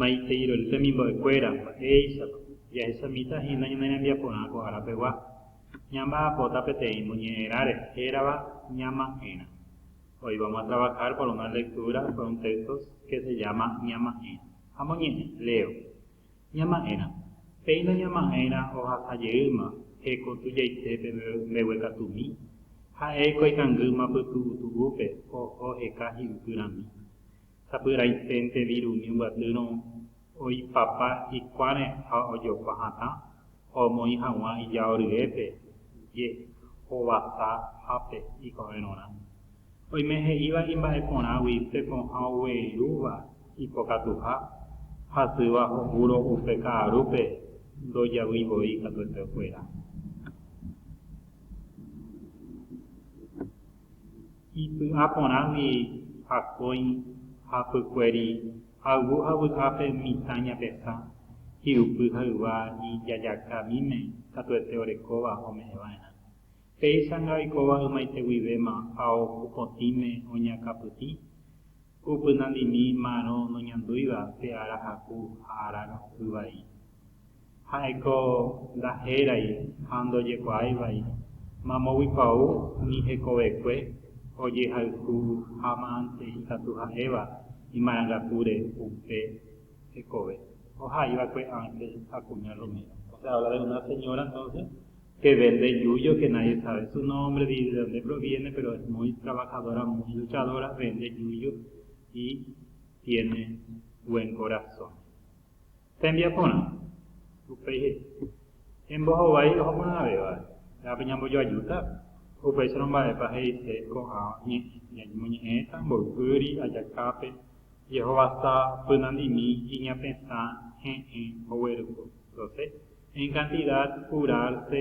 Maitei roli temimbo'ekuéra, mba'éichapa jahechamíta hína ñane rembiaporã ko ára pegua. Ñamba'apóta peteĩ moñe'ẽrã rehe hérava Ñama'ẽrã. Hoy vamos a trabajar por una lectura por un texto que se llama Ñama'ẽrã. Amoñe'ẽ, leo. Ñama'ẽrã, péina ñama'ẽrã ohasa jeýma heko tujaitépe mbeguekatumi, ha'éiko ikangýma pytu'utu'úpe oho heka hi'upyrãmi. sapy'aiténte virumi mbyatýrõ oipapa hikuãre ha ojopa hatã, ha omoĩ haguã ijao ryépe, je, hovasa hápe ikovérõrã. Oime he'íva imba'eporãgui tekoha ogueirúva ipokatuha, hasýva ho'úro upe ka'arúpe ndojavy voi katuete okuera. Ipy'a porãgui akói ha pykueri ayvu ha vy'ápe mitã ñapesã, hi'upy ha yva ijajaka míme katuete orekóva ome'ẽva'erã. Péichanga oikóva ymaite guivéma ha oho potĩme oñakãpytĩ, upynandimi ma'arõ noñandúiva pe ára haku ha ára yvai. Ha'éko ndahérái ha ndojekuaái vai mamógui kuaú umi hekovekue ojehayhu hámante ikatu ha'éva imarangatúre upe hekove, oha'i va'ekue Ángel ha kuña Romero. O sea, habla de una señora entonces que vende yuyo que nadie sabe su nombre ni de donde proviene, pero es muy trabajadora, muy luchadora, vende yuyo y tiene buen corazón. Tembiaporã. Upéi he'i, Embohovái ohoporãvéva, ehápe ñambojoajúta? Upéicharõ mba'épa he'ise ko'ã ñañemoñe'ẽta mboypýri ajakápe jehovasa pynandimi iñapesã he'ẽ oguerypy, doce, en cantidad curarse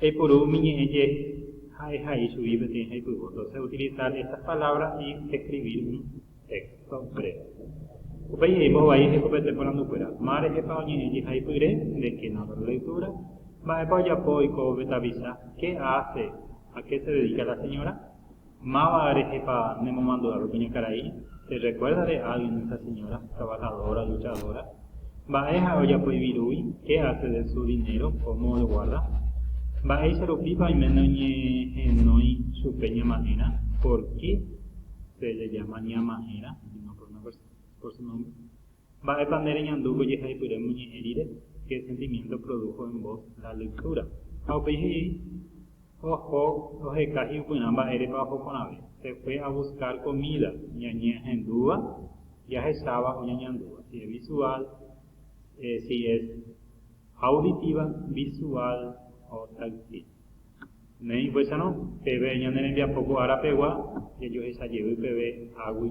Jaipuru umi ñe'ẽ je ha'e ha'i chugui peteĩ jaipyvo. Entonces utilizar estas palabras y escribir un texto breve. Upéi he'ívo vai hekopete porandukuéra, Ma rehepa oñe'ẽ jehaipyre, de qué nota la lectura? Mba'épa ojapo oiko ovetavisa, Qué hace, a qué se dedica la señora? Máva rehepa ne momandu'ápe pe ña karai? Te rekuérdare a alguien de esa señora, trabajadora, luchadora? Mba'e ha'e ojapo ivirúgui? Qué hace de su dinero? Cómo el guarda? Mba'éicha rupípa oime noñehenói chupe ñama'ẽrã? Por qué se le llama ñama'ẽrã? Sino por una persona, por su nombre. Mba'épa nde reñandu ko jehaipyre moñe'ẽ rire? Ke sentimiento produjo en vos la lectura? Ha upéi he'i, Oho oheka hi'upyrã mba'érepa oho porãve. Se fue a buscar comida, ñañehendúva, jahecháva o ñañandúva. Si es visual, si es auditiva, visual o táctil. Néi upéicharõ, peve ñane rembiapo ko ára pegua jajohecha jevy peve águi.